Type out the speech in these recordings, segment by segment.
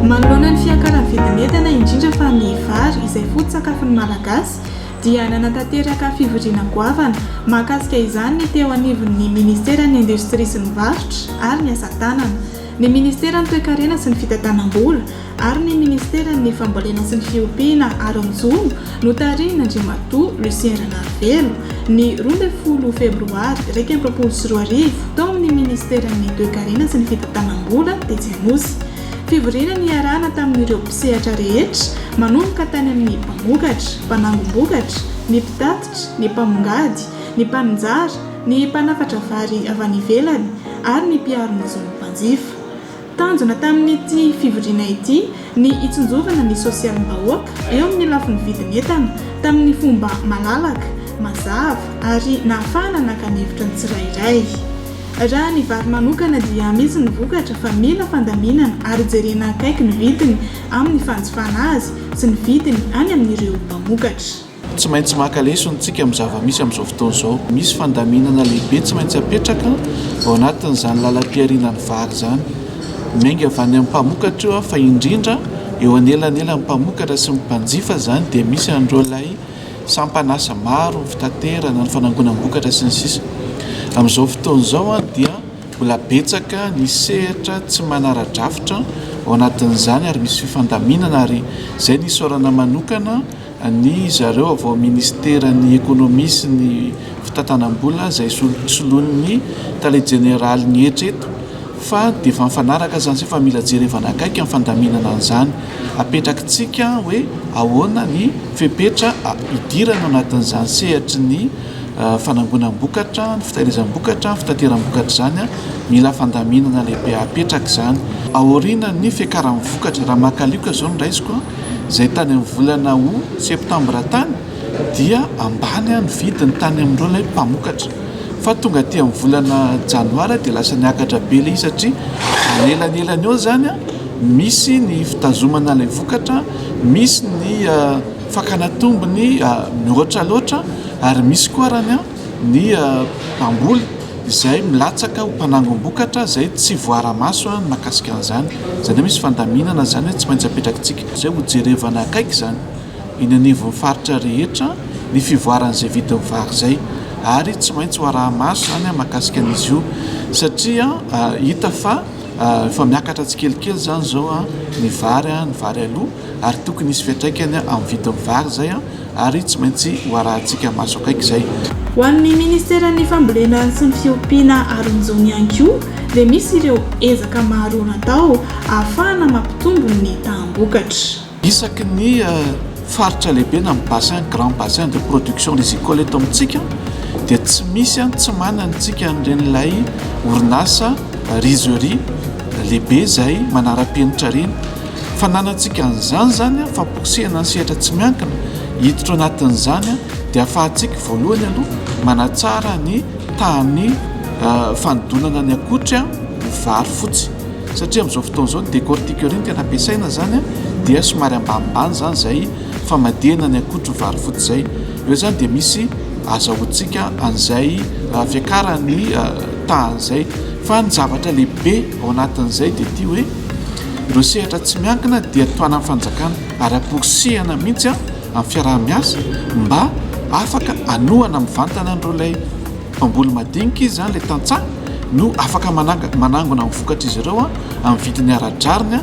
Manoloana ny fiakaran'ny vidin'entana indrindra fa ny vary izay foto-tsakafon'ny Malagasy dia nanatanteraka fivoriana goavana mahakasika izany ny teo anivon'ny minisiteran'ny indostria sy ny varotra ary ny asa tanana. Ny Ministeran'ny Toekarena sy ny Fitantanam-bola ary ny Ministeran'ny Fambolena sy ny Fiompiana Aronjono no tarihin'Andriamatoa Lucien Ranarivelo, ny roa ambin'ny folo febroary iraika amby roapolo sy roa arivo, tao amin'ny Ministeran'ny Toekarena sy ny Fitantanam-bola, tetsy Anosy. Fivoriana niarahana tamin'ireo mpisehatra rehetra, manomboka tany amin'ny mpamokatra, mpanangom-bokatra, ny mpitatitra, ny mpamongady, ny mpaninjara, ny mpanafatra vary avy any ivelany ary ny mpiaro ny zon'ny mpanjifa. Tanjona tamin'ity fivoriana ity ny hitsinjovana ny sosialim-bahoaka eo amin'ny lafiny vidin'entana tamin'ny fomba malalaka, mazava ary nahafahana naka ny hevitra ny tsirairay. Raha ny vary manokana dia misy ny vokatra fa mila fandaminana ary jerena akaiky ny vidiny amin'ny fanjifana azy sy ny vidiny any amin'ireo mpamokatra. Tsy maintsy maka lesona isika amin'ny zava-misy amin'izao fotoana izao. Misy fandaminana lehibe tsy maintsy apetraka ao anatin'izany lalam-piharianan'ny vary izany. Miainga avy any amin'ny mpamokatra io fa indrindra eo anelanelan'ny mpamokatra sy ny mpanjifa izany dia misy an'ireo ilay sampan'asa maro, ny fitaterana, ny fanangonam-bokatra sy ny sisa Amin'izao fotoana izao dia mbola betsaka ny sehatra tsy manara-drafitra ao anatin'izany ary misy fifandaminana ary izay no isaorana manokana Ny zareo avy ao Minisiteran'ny Ekonomia sy ny Fitantanam-bola izay soloin'ny Tale Jeneraly ny hetra eto fa dia efa mifanaraka izany sy efa mila jerevana akaiky ny fandaminana an'izany. Apetrakitsika hoe ahoana ny fepetra hidirana ao anatin'izany sehatry ny fanangonam-bokatra, ny fitahirizam-bokatra, ny fitateram-bokatra izany. Mila fandaminana lehibe apetraka izany. Aorianan'ny fiakaran'ny vokatra, raha maka alioka izao no raisiko, izay tany amin'ny volana Août, Septembre tany dia ambany ny vidiny tany amin'ireo ilay mpamokatra fa tonga aty amin'ny volana Janoary dia lasa niakatra be ilay izy satria manelanelana eo izany misy ny fitazomana ilay vokatra, misy ny fakana tombony mihoatra loatra ary misy koa raha ny an. ny mpamboly izay milatsaka ho mpanangom-bokatra izay tsy voara-maso ny mahakasika an'izany. Izany hoe misy fandaminana izany hoe tsy maintsy apetrakintsika izay ho jerevana akaiky izany eny anivon'ny faritra rehetra ny fivoaran'izay vidin'ny vary izay ary tsy maintsy ho araha-maso izany mahakasika an'izy io satria hita fa efa miakatra tsikelikely izany izao ny vary, ny vary aloa. ary tokony hisy fiantraikany amin'ny vidin'ny vary izay ary tsy maintsy ho arahintsika maso akaiky izay. Ho an'ny Ministeran'ny Fambolena sy ny Fiompiana Aronjony ihany koa dia misy ireo ezaka maro natao ahafahana mampitombo ny taham-bokatra. Isaky ny faritra lehibe na ny bassin, grand bassin de production rizicole eto amintsika dia tsy misy an tsy manana antsika an'iren'ilay orinasa rizerie lehibe izay manara-penitra ireny. Fananantsika an'izany izany fa pousser-na ny sehatra tsy miankina hiditra ao anatin'izany dia afahantsika voalohany aloha manatsara ny tahan'ny fanodonana ny akotry ho vary fotsy satria amin'izao fotoana izao ny décortiqueur iny tena ampiasaina izany dia somary ambanimbany izany izay famadihana ny akotry ho vary fotsy izay. Eo izany dia misy azahoantsika an'izay fiakaran'ny tahan'izay fa ny zavatra lehibe ao anatin'izay dia ity hoe Ireo sehatra tsy miankina dia tohanan'ny fanjakana ary amporisihana mihitsy amin'ny fiaraha-miasa mba afaka hanohana mivantana an'ireo ilay mpamboly madinika izy izany ilay tantsaha no afaka manangona ny vokatr'izy ireo amin'ny vidiny ara-drariny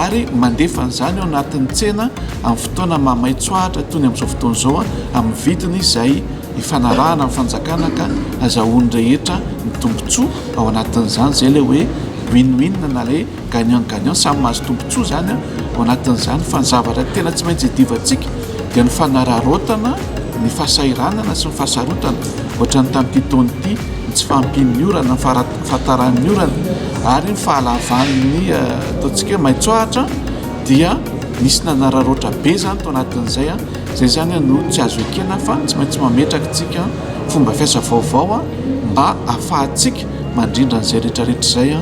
ary mandefa an'izany eo anatin'ny tsena amin'ny fotoana mahamaitsoahatra toy ny amin'izao fotoana izao amin'ny vidiny izay ifanarahana amin'ny fanjakana ka azahoan'ny rehetra ny tombontsoa ao anatin'izany izay ilay hoe win-win na ilay gagnant gagnant samy mahazo tombontsoa izany ao anatin'izany fa ny zavatra tena tsy maintsy idivantsika dia ny fanararaotana ny fahasahiranana sy ny fahasarotana ohatra ny tamin'ity taona ity ny tsy fahampian'ny orana ny fahataran'ny orana ary ny fahalavan'ny eh, ataontsika hoe maitsoahatra dia nisy nanararaotra be izany tao anatin'izay a izay izany no tsy azo ekena fa tsy maintsy mametraka tsika fomba fiasa vaovao a mba afahantsika mandrindra an'izay rehetrarehetra izay a